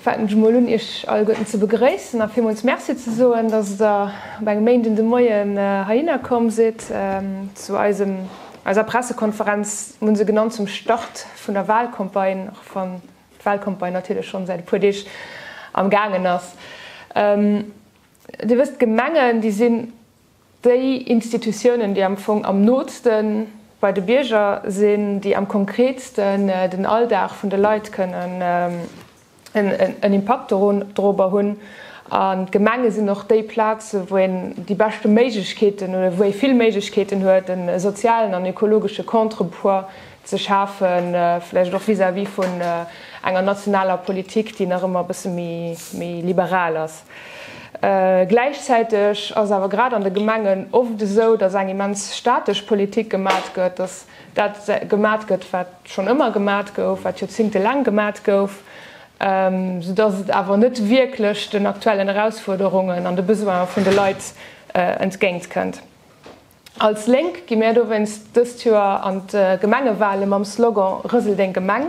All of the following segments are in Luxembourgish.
Faangen ech emol un iech alleguerten ze begréissen a villmools Merci ze soen, dass der op engem Méinden de Moien heihinner komm sidd zu eisem, eiser Pressekonferenz, mol esou genannt, zum Start vun der Wahlcampagne, och wann d'Wahlcampagne natierlech schonn säit e puer Deeg am gaangen ass. Dir wësst, d'Gemengen, déi sinn, Déi Institutiounen, déi am Fong am nootste bei de Bierger sinn, déi am konkreetsten den Alldag vun de Leit kënnen en Impakt dorobber hunn. An d'Gemenge sinn och déi Plazen, wou een déi beschte Méiglechkeeten oder wou ee vill Méiglechkeeten huet, e sozialen an ökologesche Contrepoids ze schafen, vläicht och vis-à-vis vun enger nationaler Politik, déi nach ëmmer e bësse méi liberal ass. Gläichzäiteg ass et awer grad an de Gemengen oft esou, datt eng immens statesch Politik gemat gëtt, datt dat gemat gëtt, wat schonn ëmmer gemat gouf, wat joerzéngtelaang gemat gouf, soudatt et awer net wierklech den aktuellen Erausfuerderungen an de Besoine vun de Leit entgéintkënnt. Als Lénk gi mär dowéinst dëst Joer an d'Gemengewale mam Slogan Rësel deng Gemeng.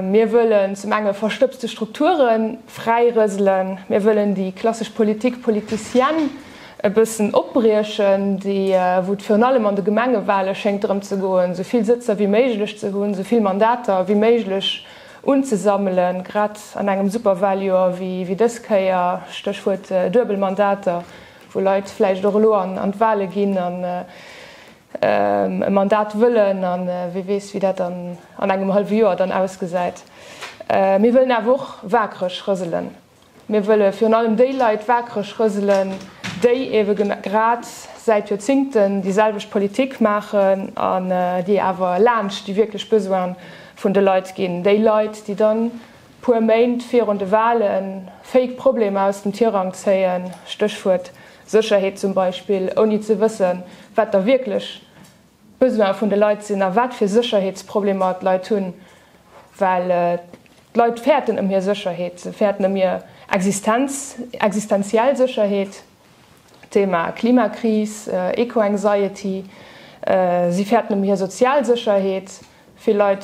Mir wëllen zum enge verstëbste Strukture fräi rëselen, mir wëllen déi klassesch Politik politicienne e bëssen opbriechen, déi wou et virun allem an de Gemengewale schéngt drëm ze goen, esou vill Sëtzer wéi méiglech ze hunn, esou vill Mandater wéi méiglech unzesammelen, grad an engem Superwaljoer wéi dës Kéier, Stéchwuert Duebelmandater. wou Leit vläicht och elo an d'Wale ginn an e Mandat wëllen a wie weess, wéi dat dann an engem hallwe Joer dann ausgesäit. Mir wëllen awer och waakreg rëselen. Mir wëlle virun allem déi Leit waakreg rëselen, déi eebe grad säit Joerzingten déi selwecht Politik maachen an déi awer laanscht déi wierklech Besoine vun de Leit ginn, déi Leit, déi dann puer Méint virun de Walen fake Problemer aus dem Tirang zéien, Stéchwuert Sécherheet zum Beispill, ouni ze wëssen, wat da wierklech d'Besoine vun de Leit sinn a wat fir Sécherheetsproblemer d'Leit hunn. Well d'Leit fäerten ëm hir Sécherheet, se fäerten ëm hir Existenz, existenziell Sécherheet. D'Thema Klimakris, Eco-Anxiety, si fäerten ëm hir sozial Sécherheet. Vill Leit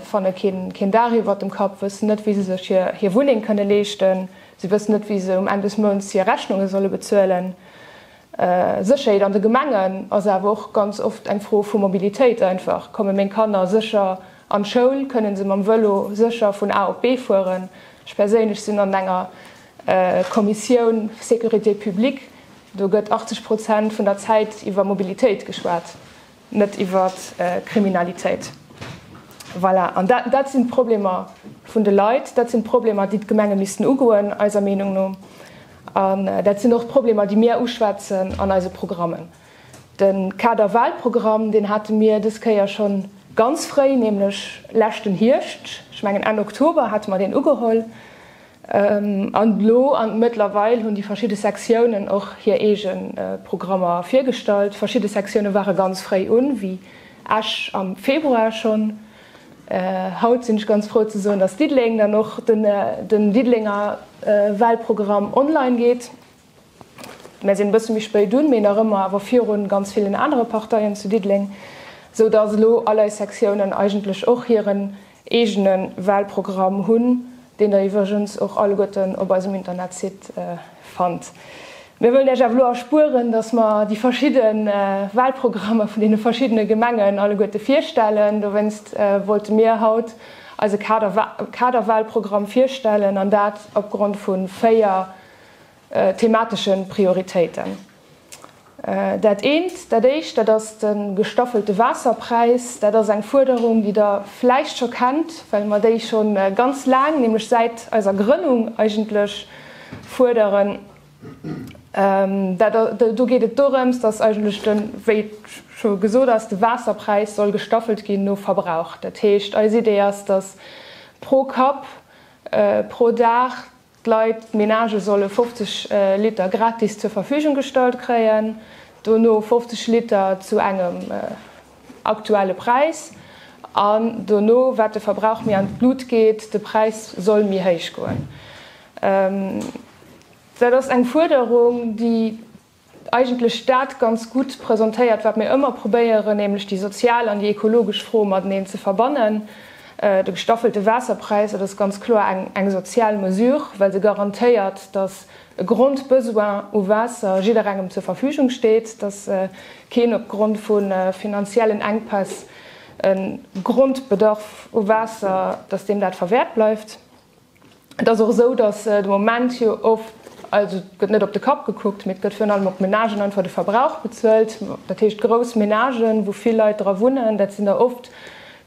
fanne keen Daach iwwert dem Kapp, wëssen net, wéi se sech hir Wunneng kënne leeschten, si wëssen net, wéi se um Enn des Mounts hir Rechnunge solle bezuelen. Sécherheet an de Gemengen ass awer och ganz oft eng Fro vu Mobilitéit einfach. Komme meng Kanner sécher an d'Schoul? Kënne se mam Vëlo sécher vun A op B fueren? Ech perséinlech sinn an enger. Kommissioun Sécurité publique, do gëtt 80 Prozent vun der Zäit iwwer Mobilitéit geschwat, net iwwer Kriminalitéit. Voilà, an dat dat sinn d'Problemer vun de Leit, dat sinn d'Problemer, déi d'Gemenge missten ugoen eiser Meenung no. An dat sinn och d'Problemer, déi mir uschwätzen an eise Programmen. De Kader-Wahlprogramm, deen hate mir dës Kéier scho ganz fréi, nämlech leschten Hierscht, ech mengen Enn Oktober hate mer deen ugeholl, An elo an mëttlerweil hunn déi verschidde Sektiounen och hir eege Programmer virgestallt. Verschidde Sektioune ware ganz fréi un, wéi Esch am Februar schonn. Haut sinn ech ganz frou ze soen, dass Diddeleng dann och den Diddelenger Walprogramm online geet. Mär sinn e bësse méi spéit un, mee nach ëmmer awer viru ganz villen anere Parteien zu Diddeleng, sou dass elo all eis Sektiounen eigentlech och hiren eegene Walprogramm hunn, deen der iwwregens och alleguerten op eisem Internetsite fannt. Mär wëllen Iech awer elo erspueren, dass mer déi verschidde Walprogrammer vun deene verschiddene Gemengen alleguerte virstellen. Dowéinst wollte mir haut eise Kader-Walprogramm virstellen, an dat opgrond vu véier. thematesche Prioritéiten. Dat eent, dat éischt, dat ass de gestaffelte Waasserpräis. Dat ass eng Fuerderung, déi Der vläicht scho kennt, well mer déi scho ganz laang, nämlech säit eiser Grënnung eigentlech, fuerderen. Do geet et dorëms, dass eigentlech de, wéi scho gesot ass, de Waasserpräis soll gestaffelt ginn no Verbrauch. Dat heescht, eis Idee ass, dass pro Kapp, pro Dag, D'Leit, d'Menagë solle 50 Liter gratis zur Verfügung gestallt kréien, dono 50 Liter zu engem aktuelle Präis an dono, wat de Verbrauch méi an d'Blut geet, de Präis soll méi héich goen. Dat ass eng Fuerderung, déi. eigentlech dat ganz gutt presentéiert, wat mir ëmmer probéieren, nämlech déi sozial an déi ekologesch Fro mateneen ze verbannen. De gestaffelte Waasserpräis, dat ass ganz kloer eng sozial Mesure, well se garantéiert, datt e Grondbesoin u Waasser jidderengem zur Verfügung steet, datt keen opgrond vu finanziellen Enkpäss e Grondbedarf u Waasser, datt deem dat verwäert bleift. Et ass och esou, datt de Moment jo oft, also et gëtt net op de Kapp gekuckt, mee et gëtt virun allem op d'Menagen einfach de Verbrauch bezuelt. Dat heescht, grouss Menagen, wou vill Leit dra wunnen, dat sinn der oft,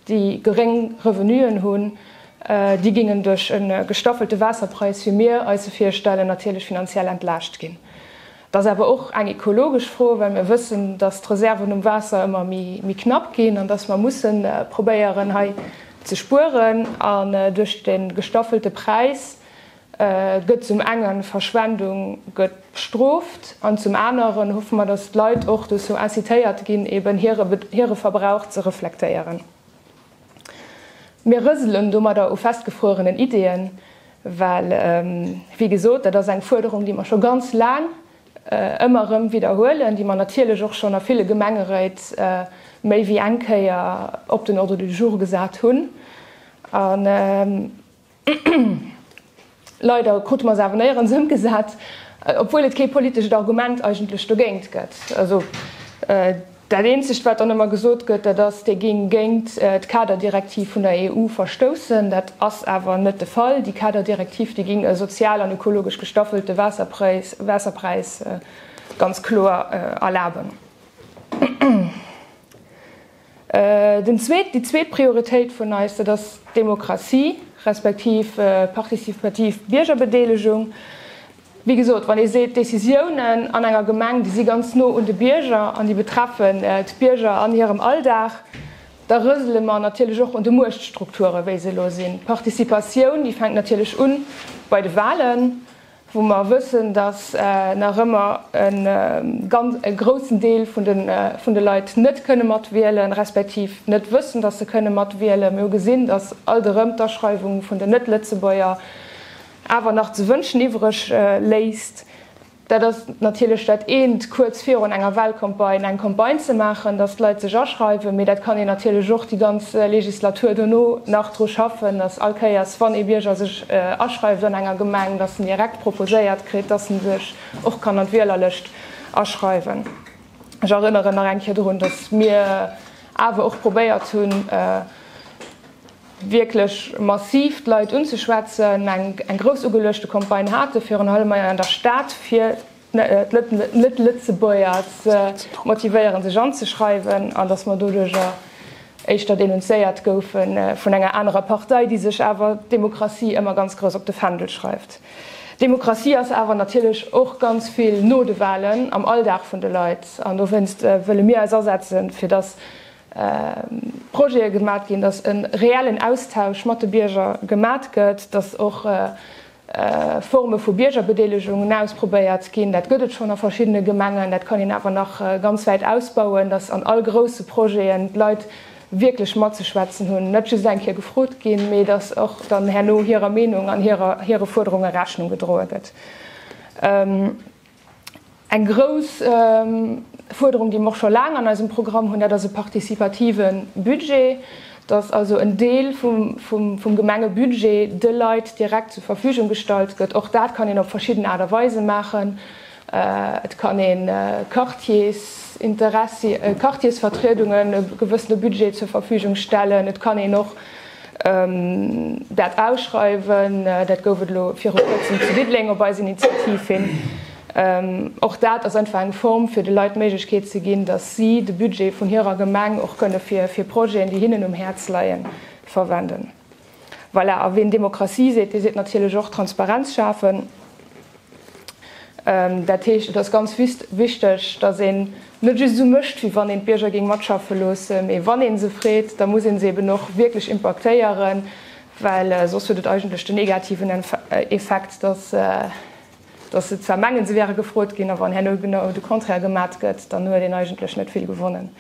déi geréng Revenuen hunn, déi géingen duerch e gestaffelte Waasserpräis, wéi mir eis e virstellen, natierlech finanziell entlaascht ginn. Et ass awer och eng ekologesch Fro, well mir wëssen, dass d'Reserven um Waasser ëmmer méi knapp ginn an dass mer mussen probéieren hei ze spueren. An duerch de gestaffelte Präis gëtt zum engen Verschwendung gëtt bestrooft an zum aneren hoffe mer, dass d'Leit och dozou incitéiert ginn, eben hire Verbrauch ze reflektéieren. Mir rëselen domadder u festgefruerenen Ideeën, well, wéi gesot, dat ass eng Fuerderung, déi mer scho ganz laang ëmmer erëm widderhuelen, déi mer natierlech och schonn a ville Gemengeréit méi wéi eng Kéier op den Ordre du jour gesat hunn. Leider krute mer se awer néierens ëmgesat, obwuel et kee politescht Argument eigentlech dogéint gëtt. Also dat eenzegt, wat dann ëmmer gesot gëtt, dat ass, Dir gingt géint d'Kaderdirektiv vun der EU verstoussen. Dat ass awer net de Fall. Déi Kaderdirektiv, déi géing e sozial an ökologesch gestaffelte Waasserpräis ganz kloer erlaben. Den zweet, déi zweet Prioritéit vun eis, dat ass d'Demokratie, respektiv participativ Biergerbedeelegung. Wéi gesot, wann ee seet, d'Décisiounen an enger Gemeng, déi si ganz no un de Bierger an déi betreffen d'Bierger an hirem Alldag, da rësele mer natierlech och un de Muechtstrukturen, wéi se elo sinn. D'Participatioun, déi fänkt natierlech u bei de Wahlen. wou mer wëssen, dass nach ëmmer e groussen Deel vun de Leit net kënne mat wielen, respektiv net wëssen, dass se kënne mat wielen. Mir hu gesinn, dass alt erëm d'Aschreiwung vun den Net-Lëtzebuerger awer nach ze wënschen iwwreg léisst. Dat ass natierlech dat eent, kuerz virun enger Wahlcampagne eng Campagne ze maachen, dass d'Leit sech aschreiwen, mee dat kann een natierlech och déi ganz Legislatur dono nach dru schaffen, dass all Kéiers, wann ee Bierger sech aschreift an enger Gemeng, dass en direkt proposéiert kritt, dass en sech och kann an d'Wielerlëscht aschreiwen. Ech erënneren nach eng Kéier dorun, dass mir awer och probéiert hunn, wierklech massiv d'Leit unzeschwätzen, eng grouss ugeluechte Campagne hate virun allem hei an der Stad, fir Net-Lëtzebuerger ze motivéieren, sech anzeschreiwen, an datt mer doduercher éischter denunzéiert goufe vun enger anerer Partei, déi sech awer d'Demokratie ëmmer ganz grouss op de Fändel schreift. Demokratie ass awer natierlech och ganz vill no de Wahlen am Alldag vun de Leit. An dowéinst wëlle mir eis asetzen, fir datt Projete gemat ginn, datt e reellen Austausch mat de Bierger gemat gëtt, datt och Forme vu Biergerbedeelegungen ausprobéiert ginn. Dat gëtt et schonn a verschiddene Gemengen, dat kann een awer nach ganz wäit ausbauen, dass an all grousse Projeten d'Leit wierklech matzeschwätzen hunn, net just eng Kéier gefrot ginn, mee dass och dann herno hirer Meenung an hire Fuerderunge Rechnung gedroe gëtt. Eng grouss Fuerderung, déi mer och scho laang an eisem Programm hunn, dat ass e participative Budget, dass also en Deel vum Gemengebudget de Leit direkt zur Verfügung gestallt gëtt. Och dat kann een op verschidden Aart a Weise maachen. Et kann ee Quartiersinteressi-, Quartiersvertriedungen e gewëssene Budget zur Verfügung stellen. Et kann een och. Dat Ausschreiwen, dat gouf et elo viru kuerzem zu Diddeleng op eis Initiativ hin. Och dat ass einfach eng Form fir de Leit d'Méiglechkeet ze ginn, datt si de Budget vun hirer Gemeng och kënne fir Projeten, déi hinnen um Häerz leien, verwenden. Voilà, a ween Demokratie seet, dee seet natierlech och Transparenz schafen. Dat heescht, et ass ganz wichteg, datt een net just esou mécht, wéi wann een d'Bierger géing matschaffe loossen, mee wann ee se freet, da muss ee se eben och wierklech impaktéieren, well soss huet et eigentlech den negativen Effekt, datt se zwar mengen, se wäre gefrot ginn, a wann herno genau de Contraire gemat gëtt, dann huet een eigentlech net vill gewonnen.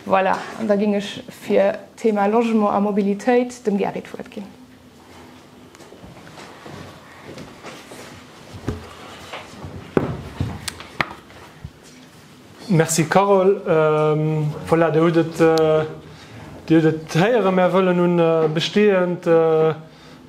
Voilà, an da géing ech fir d'Thema Logement a Mobilitéit dem Gary d'Wuert ginn. Merci Carole. Voilà, Dir hutt et, Dir hutt et héieren, Mär wëllen un bestehend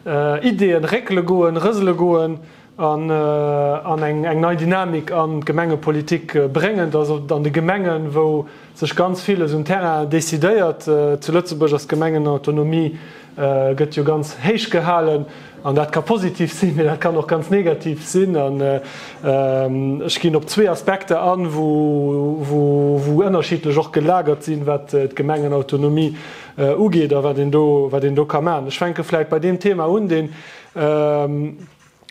Ideeën réckele goen, rësele goen. an eng nei Dynamik an d'Gemengepolitik bréngen. Dass och an de Gemengen, wou sech ganz villes um Terrain decidéiert, zu Lëtzebuerg ass d'Gemengenautonomie, gëtt jo ganz héich gehalen an dat ka positiv sinn, mee dat kann och ganz negativ sinn. An ech ginn op zwee Aspekter an, wou ënnerschiddlech och gelagert sinn, wat d'Gemengenautonomie ugeet a wat een do ka maachen. Ech fänke vläicht bei deem Thema un, deen,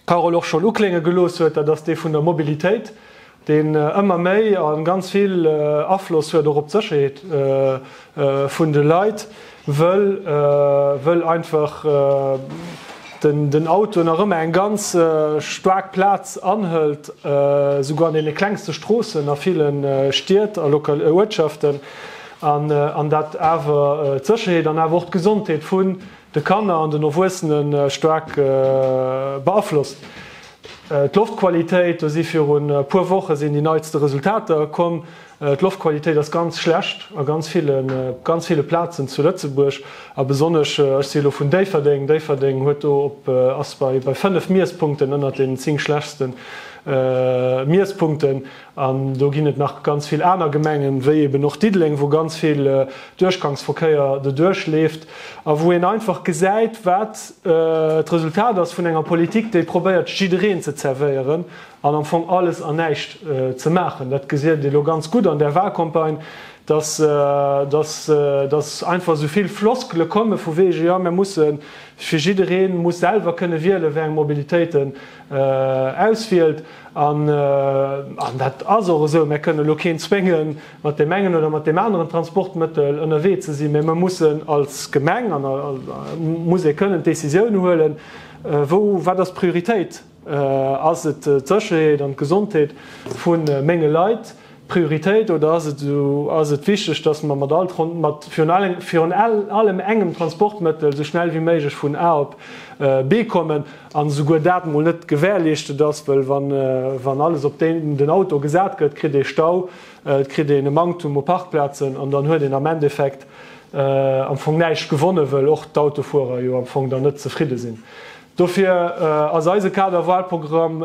Carole och schonn uklénge gelooss huet, dat ass dee vun der Mobilitéit, deen ëmmer méi a ganz vill Afloss huet och op d'Sécherheet vun de Leit, wëll einfach den Auto nach ëmmer eng ganz staark Plaz anhëlt, souguer an deene klengste Stroossen a ville Stied a Uertschaften, an dat awer d'Sécherheet an awer och d'Gesondheet vu de Kanner an den Erwuessene staark beaflosst. D'Loftqualitéit, do si virun e puer Woche sinn déi neitste Resultater komm, d'Loftqualitéit ass ganz schlecht a ganz ville, ganz ville Plazen zu Lëtzebuerg a besonnesch, ech si elo vun Déifferdeng, Déifferdeng huet do op, ass bei 5 Miesspunkten ënnert deenen 10 schlechste Miesspunkten. An do ginn et nach ganz vill aner Gemengen, wéi eben och Diddeleng, wou ganz vill Duerchgangsverkéier doduerch leeft a wou een einfach gesäit, wat d'Resultat ass vun enger Politik, déi probéiert, jiddereen ze zervéieren an am Fong alles an näischt ze maachen. Dat gesiet ee lo ganz gutt an där Wahlcampagne, dass, dass, dass einfach esou vill Floskele komme vu wege, jo, mir musse fir jiddereen muss selwer kënne wiele wéi eng Mobilitéiten Auswielt. An dat ass och esou, mär kënnen elo keen zwénge mat deem engen oder mat deem aneren Transportmëttel ënnerwee ze sinn, mä mer mussen als Gemeng, muss ee kënnen d'Décisioun huelen, wou, wat ass d'Prioritéit, ass et d'Sécherheet an d'Gesondheet vu menge Leit, Prioritéit oder ass et esou, ass et wichteg, dass mer mat all, mat virun allem engem Transportmëttel esou schnell wéi méiglech vun A op B kommen an esouguer dat emol net gewährleeschtet ass, wëll wann, wann alles op den Auto gesat gëtt, kritt ee Stau, et kritt een e Manktum u Parkplazen an dann huet een am Endeffekt am Fong näischt gewonne, wëll och d'Autofuerer jo am Fong dann net zefridde sinn. Dofir ass eise Kader-Wahlprogramm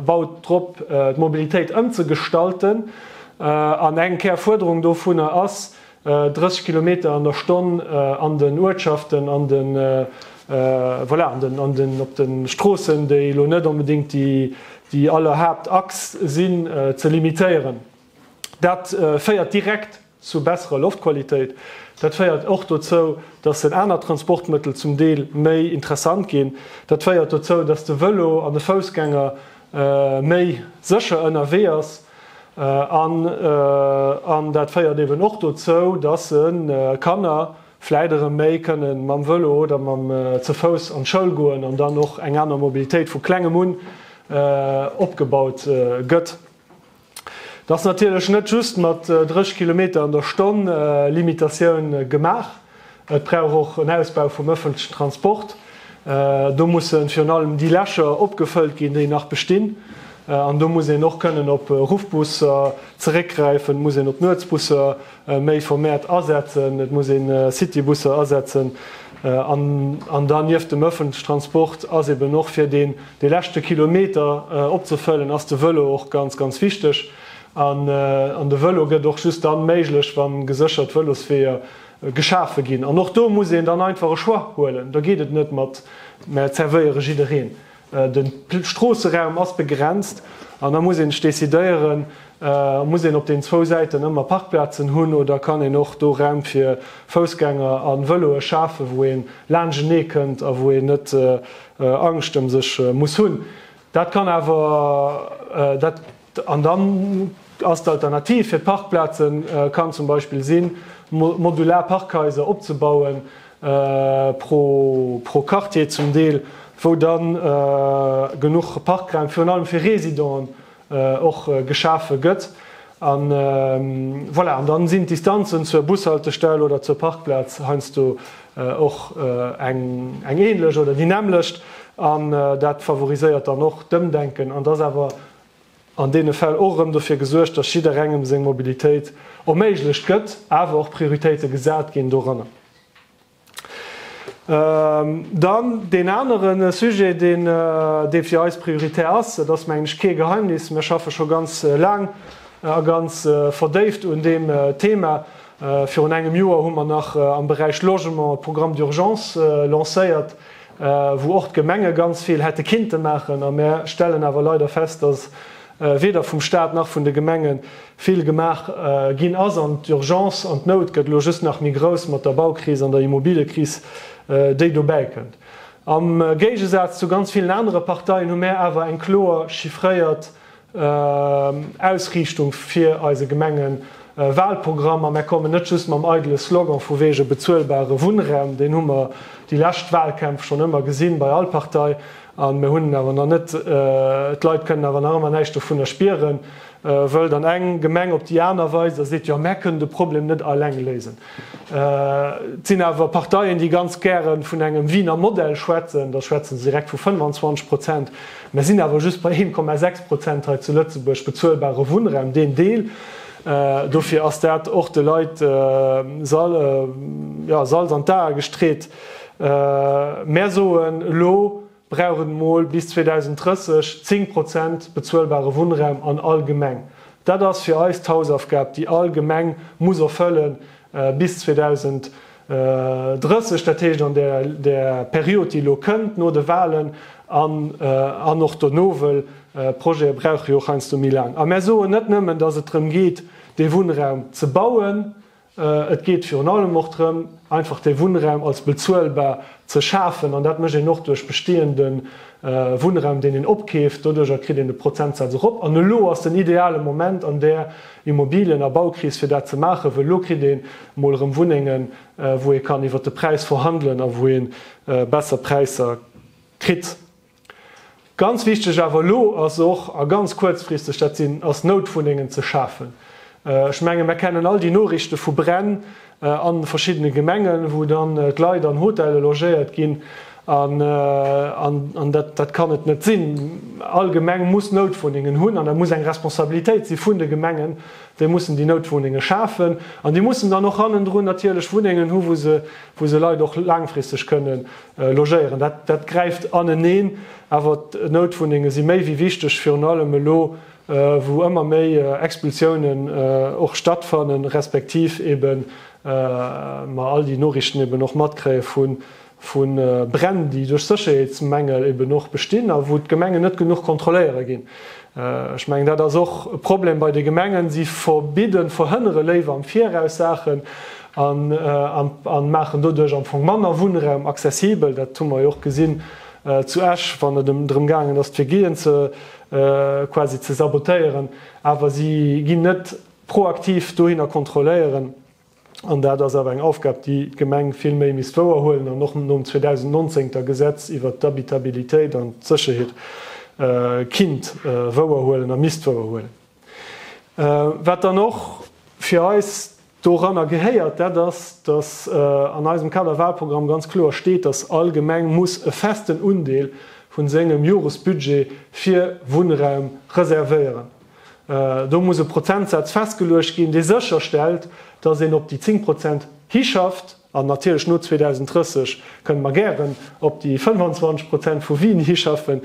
baut drop, d'Mobilitéit ëmzegestalten. An eng kär Fuerderung dovunner ass, 30 Kilometer an der Stonn an den Uertschaften, an de, voilà, an den, op de Stroossen, déi elo net onbedéngt déi aller Haaptachs sinn, ze limitéieren. Dat féiert direkt zu besserer Loftqualitéit. Dat féiert och dozou, dass den aner Transportmëttel zum Deel méi interessant ginn. Dat féiert dozou, dass de Vëlo an de Foussgänger méi sécher ënnerwee ass an dat féiert eeben och dozou, dass se Kanner vläit erëm méi kënne mam Vëlo oder ze Fouss an d'Schoul goen an dann och eng aner Mobilitéit vu Klengem un opgebaut gëtt. Et ass natierlech net just mat 30 Kilometer an der Stonn Limitatioun gemaach. Et brauch och en Ausbau vum ëffentlechen Transport. Do musse virun allem déi Lächer opgefëllt ginn, déi nach bestinn. An do muss een och kënnen op Ruffbusser zeréckgräifen, muss een op Nuetsbusser Méi vermehrt asetzen, et muss een Citybusser asetzen an dann nieft dem öffentliche Transport ass eben och fir deen dee leschte Kilometer opzefëllen ass de Vëlo och ganz ganz wichteg an de Vëlo gëtt och just dann méiglech wann geséchert Vëlosweeër geschafe ginn an och do muss een dann einfach e Choix huelen, da geet et net mat mer zervéiere jiddereen, De Stroosseraum ass begrenzt an da muss een sech decidéieren, muss een op den zwou Säiten ëmmer Parkplazen hunn oder kann een och do Räum fir Foussgänger a Vëloe schafen, wou een laanschtenee kënnt a wou een net Angscht ëm sech muss hunn. Dat kann awer dat. An dann ass d'Alternativ fir d'Parkplazen kann zum Beispill sinn, modular Parkhaiser opzebauen, pro Quartier zum Deel, wou da genuch Parkraum virun allem fir Residenten och geschafe gëtt. An voilà, an dann sinn d'Distanzen zur Bushaltestell oder zur Parkplaz heiansdo och eng ähnlech oder déi nämmlecht. An dat favoriséiert dann och d'Ëmdenken. An 't ass awer an deene Fäll och erëm dofir gesuergt, dass jidderengem seng Mobilitéit erméiglecht gëtt, awer och Prioritéite gesat ginn doranner. Dann deen anere Sujet, dee fir eis prioritär ass, et ass, mengen ech, kee Geheimnis, Mir schaffe scho ganz laang a ganz verdéift un deem Thema. Virun engem Joer hu mer nach am Beräich Logement e Programme d'urgence lancéiert, wou och d'Gemenge ganz vill hätte kinnte maachen, a mär stellen awer leider fest, dass weder vum Stat nach vun de Gemenge vill gemaach ginn ass, an d'Urgence an d'Nout gëtt elo just nach méi grouss mat der Baukris an der Immobiliëkris, déi dobäi kënnt. Am Géigesaz zu ganz villen anere Parteien hu mär awer eng kloer chiffréiert Ausriichtung fir eise Gemengen Walprogrammer. Mär kommen net just mam eidele Slogan vu wege bezuelbare Wunnraum, deen hu mer déi lescht Walkämpf schonn ëmmer gesinn bei all Partei an mär hunn en awer nach net. D'Leit kënnen awer nach ëmmer näischt dovunner spieren, wëll dann eng Gemeng op déi aner weist a seet, jo mär kënnen de Problem net alleng léisen. Et sinn awer Parteien, déi ganz gäre vun engem Wiener Modell schwätzen, da schwätze se direkt vu 25 Prozent. Mer sinn awer just bei 1,6 Prozent hei zu Lëtzebuerg bezuelbare Wunnraum, deen Deel. Dofir ass dat och de Leit Salz an d'Ae gestreet. Mer soen elo, brauch et emol bis 2030 zéng Prozent bezuelbare Wunnraum an all Gemeng. Dat ass fir eis d'Hausaufgab, déi all Gemeng muss erfëlle bis 2030, dat heescht an der Period, déi elo kënnt no de Wahlen an och dono, wëll Projekte brauche jo och heiansdo méi laang. A mär soen net nëmmen, dass et drëm geet, dee Wunnraum ze bauen, Et geet virun allem och drëm, einfach de Wunnraum als bezuelbar ze schafen. An dat mécht een och duerch bestehende Wunnraum, deen een opkeeft. Doduercher kritt een de Prozentsaz erop. An elo ass den ideale Moment an där Immobilien a Baukris, fir dat ze maachen, wëll elo kritt een emol erëm Wunnengen, wou ee kann iwwert de Präis verhandelen a wou ee besser Präisser kritt. Ganz wichteg awer elo ass och, a ganz kuerzfristeg dat sinn, ass Noutwunnengen ze schafen. Ech menge mer kennen all déi Norichte vu Bränn an verschiddene Gemengen, wou dann d'Leit an Hotelle logéiert ginn. An dat kann et net sinn. All Gemeng muss Noutwunnengen hunn an dat muss eng Responsabilitéit si vun de Gemengen. Déi mussen déi Noutwunnenge schafen an déi mussen dann och hannendrun natierlech Wunnengen hu wou se Leit och laangfristeg kënnen Logéieren. Dat gräift aneneen, awer d'Noutwunnenge si méi wéi wichteg, virun allem elo, wou ëmmer méi Expulsiounen och stattfannen, respektiv ebe mer all déi Noriichten eben och matkréie vu Bränn, déi duerch Sécherheetsmängel eben och bestinn a wou d'Gemengen net genuch kontrolléiere ginn. Ech mengen, dat ass och e Problem bei de Gemengen. Si verbidden, verhënnere léiwer am Viraus Saachen. an maachen doduerch am Fong manner Wunnraum accessibel. Dat hu mer jo och gesinn zu Esch, wann et drëm gaangen ass, fir Gehien quasi ze sabotéieren, awer si ginn net proaktiv dohinner kontrolléieren. An dat ass awer eng Aufgab, déi d'Gemeng vill méi misst wouerhuelen an och nom 2019 ter Gesetz iwwert d'Habitabilitéit an d'Sécherheet kinnt wouerhuelen a misst wouerhuelen. Wat dann och fir eis Doranner gehéiert, dat ass, datt an eisem Kaderwahlprogramm ganz kloer steet, datt all Gemeng muss e festen Undeel vu sengem Joresbudget fir Wunnraum reservéieren. Do muss e Prozentsaz festgeluecht ginn, dee sécherstellt, datt een op déi 10 Prozent hischafft. An natierlech no 2030 kënnen mer gären op déi 25 Prozent vu Wien hischaffen,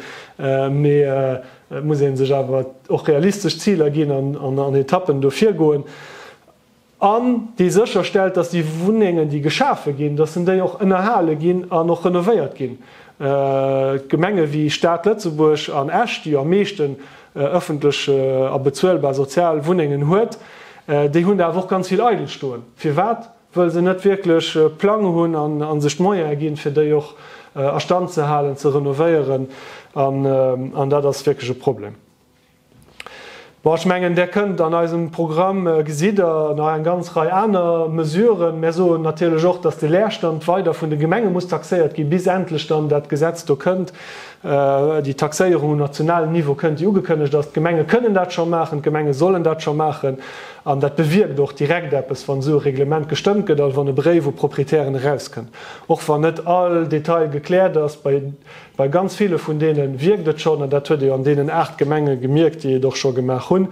mee et muss ee sech awer och realistesch Ziler ginn an an Etappen do virgoen an déi sécher stellt, datt déi Wunnengen, déi geschafe ginn, datt en déi och ënnerhale ginn an och renovéiert ginn. Gemenge wéi Stad Lëtzebuerg an Esch, déi jo am meeschten ëffentlech a bezuelbar sozial Wunnengen huet, déi hunn der awer och ganz vill eidel stoen. Firwat? wëll se net wierklech Plang hunn a sech d'Moyene ginn, fir déi och a Stand ze halen, ze renovéieren, an dat ass wierklech e Problem. Bon, ech mengen, Der kënnt an eisem Programm, gesitt Der nach eng ganz Rei aner Mesuren. Mär soen natierlech och, dass de Leerstand weider vun de Gemenge muss taxéiert ginn, bis endlech dann dat Gesetz do kënnt, déi Taxéierung um nationalen Niveau kënnt, déi ugekënnegt ass. D'Gemenge kënnen dat scho maachen, d'Gemenge sollen dat scho maachen. An dat bewierkt och direkt eppes, wann esou e Reglement gestëmmt gëtt, also wann e Bréif u d'Proprietären erauskënnt. Och wann net all Detail gekläert ass, bei bei ganz ville vun deene wierkt et schonn, an dat huet ee jo an deenen aacht Gemenge gemierkt, déi et och scho gemaach hunn.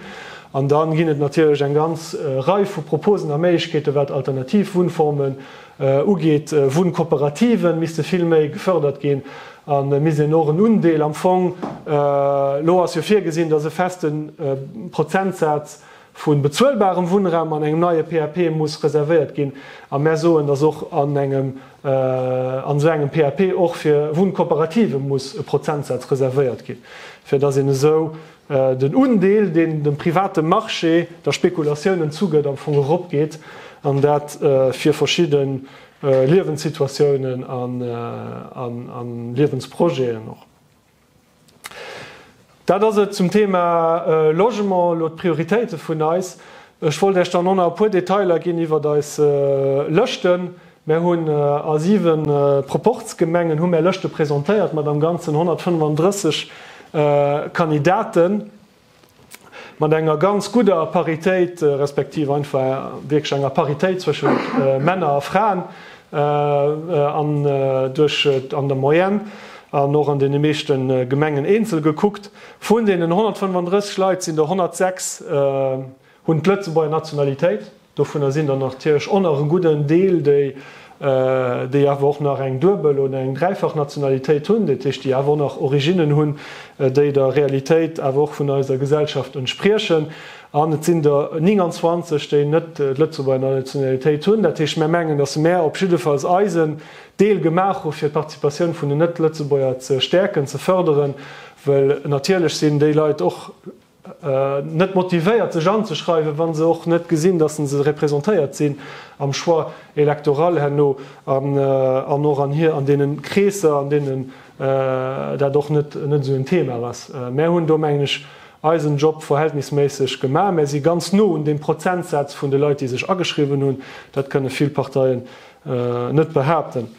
An da ginn et natierlech eng ganz Rei vu Proposen a Méiglechkeeten, wat alternativ Wunnformen ugeet. Wunnkooperative misste vill méi gefërdert ginn a misst een och en Undeel am Fong, elo ass jo virgesinn, datt e feste Prozentsaz, vu bezuelbarem Wunnraum an engem neie PAP muss reservéiert ginn. A mär soen, dass och an engem, an esou engem PAP och fir Wunnkooperative muss e Prozentsaz reservéiert ginn, fir dass een esou den Undeel, deen dem private Marché der Spekulatioun entzugëtt, am Fong eropgeet, an dat fir verschidde Liewenssituatiounen a Liewensprojeten och. Dat ass et zum Thema Logement, elo d'Prioritéite vun eis. Ech wollt Iech dann och nach e puer Detailer ginn iwwert eis Lëschten. Mär hunn a 7 Proporzgemengen hu mär Lëschte presentéiert mat am Ganzen 135 Kandidaten. Mat enger ganz gudder Paritéit, respektiv einfach wierklech enger Paritéit zwëschen Männer a Fraen an duerch an der Moyenne an och an deene meeschte Gemengen eenzel gekuckt, vun deenen 135 Leit sinn der 106 Hunn d'Lëtzebuerger Nationalitéit. Dovunner sinn der natierlech och nach e gudden Deel, déi déi awer och nach eng Duebel oder eng Dräifach Nationalitéit hunn, dat heescht, déi awer och nach Originnen hunn, déi der Realitéit awer och vun eiser Gesellschaft entspriechen. An et sinn der 29, déi net d'Lëtzebuerger Nationalitéit hunn. Dat heescht, mär mengen, datt mär op jiddefalls eisen Deel gemaach hu fir d'Participatioun vun den Net-Lëtzebuerger ze stäerken, ze fërderen, well natierlech sinn déi Leit och, net motivéiert sech anzeschreiwen, wa se och net gesinn, datt se se representéiert sinn am Choix électoral herno an och an hir an deene Kreesser, an deenen dat och net esou en Thema ass. Mär hunn do, mengen ech, eisen Job verhältnisméisseg gemaach. Mär si ganz no un deem Prozentsaz vun de Leit, déi sech ageschriwwen hunn. Dat kënne vill Parteien net behaapten.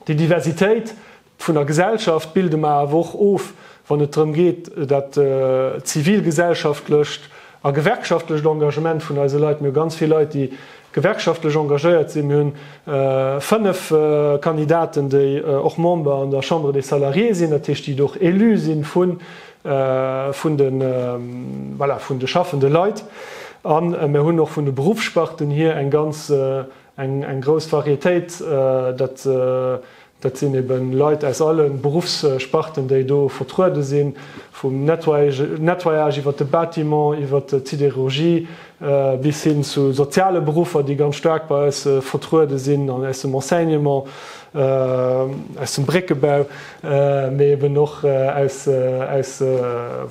Déi Diversitéit, Vun der Gesellschaft bilde mer awer och of, wann et drëm geet, dat zivilgesellschaftlecht a gewerkschaftlecht Engagement vun eise Leit. Mir hu ganz vill Leit, déi gewerkschaftlech engagéiert sinn. Mir hunn fënnef Kandidaten, déi och Member an der Chambre des Salariés sinn, dat heescht, déi do och élu si vun de schaffende Leit. A mir hunn och vun de Beruffssparten hier eng grouss Varietéit, dat Dat sinn ebe Leit aus alle Beruffssparten, déi do vertruede sinn, vum Nettoyage iwwert de Bâtiment, iwwert d'Siderurgie bis hin zu soziale Beruffer, déi ganz staark bei eis vertruede sinn, aus dem Enseignement, aus dem Bréckebau, mee eben och aus,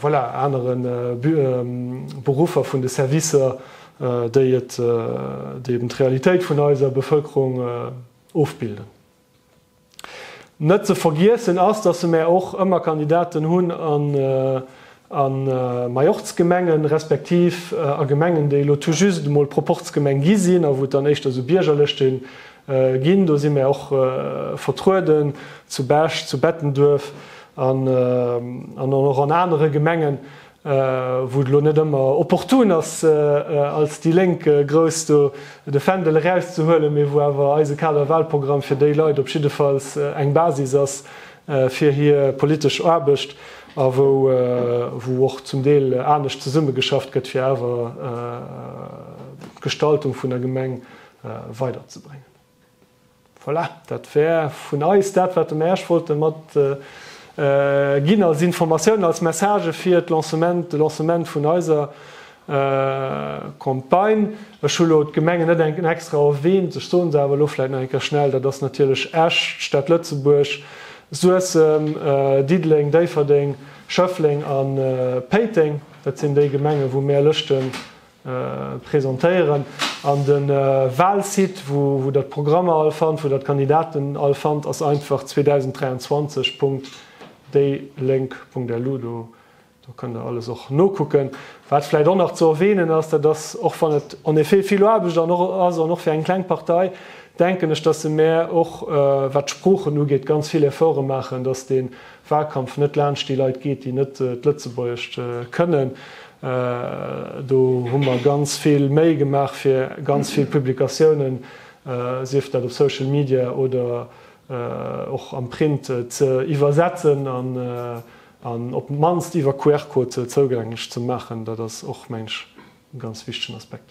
voilà, anere Beruffer vun de Servicer, déi eben d'Realitéit vun eiser Bevëlkerung ofbilden. Net ze vergiessen ass, dass se mär och ëmmer Kandidaten hunn a Majorzgemengen, respektiv a Gemengen, déi elo tout juste emol Proporzgemeng gi sinn a wou et dann éischter esou Biergerlëschte ginn. Do si mär och vertrueden, zu Bech, zu Bettenduerf an och an anere Gemengen. wou et elo net ëmmer opportun ass als déi Lénk grouss do de Fändel erauszehuelen, mee wou awer eise Kaderwahlprogramm fir déi Leit op jiddefalls eng Basis ass fir hir politesch Aarbecht a wou och zum Deel anescht zesummegeschafft gëtt fir awer d'Gestaltung vun der Gemeng weiderzebréngen. Voilà, dat wär vun eis dat, wat mer Äech wollte mat ginn als Informatiounen, als Message fir d'Lancement, de Lancement vun eiser Campagne. Ech hu lo d'Gemengen net eng extra erwähnt, ech soen se awer elo vläicht nach eng Kéier schnell, Dat ass natierlech Esch, d'Stad Lëtzebuerg, Suessem, Diddeleng, Déifferdeng, Schëffleng a Péiteng. Dat sinn déi Gemengen, wou mer Lëschte Presentéieren an de Wahlsite wou der d'Programmer all fannt, wou der d'Kandidaten all fannt ass einfach 2023 Punkt déi Lénk Punkt LU. Do kënnt der alles och nokucken. Wat vläit och nach ze erwähnen ass, dat ass, och wann et en effet vill Aarbecht an och ass an och fir eng kleng Partei, denken ech, dass se mär och wat d'Sproochen ugeet ganz vill Efforte maachen, dass dee Wahlkampf net laanscht déi Leit geet, déi net d'Lëtzebuergescht kënnen. Do hu mer ganz vill Méi gemaach fir ganz vill Publikatiounen, sief dat op Social Media oder och am Print, ze iwwersetzen an op d'mannst iwwer QR-Code zougänglech ze maachen. Dat ass och, mengen ech, e ganz wichtegen Aspekt.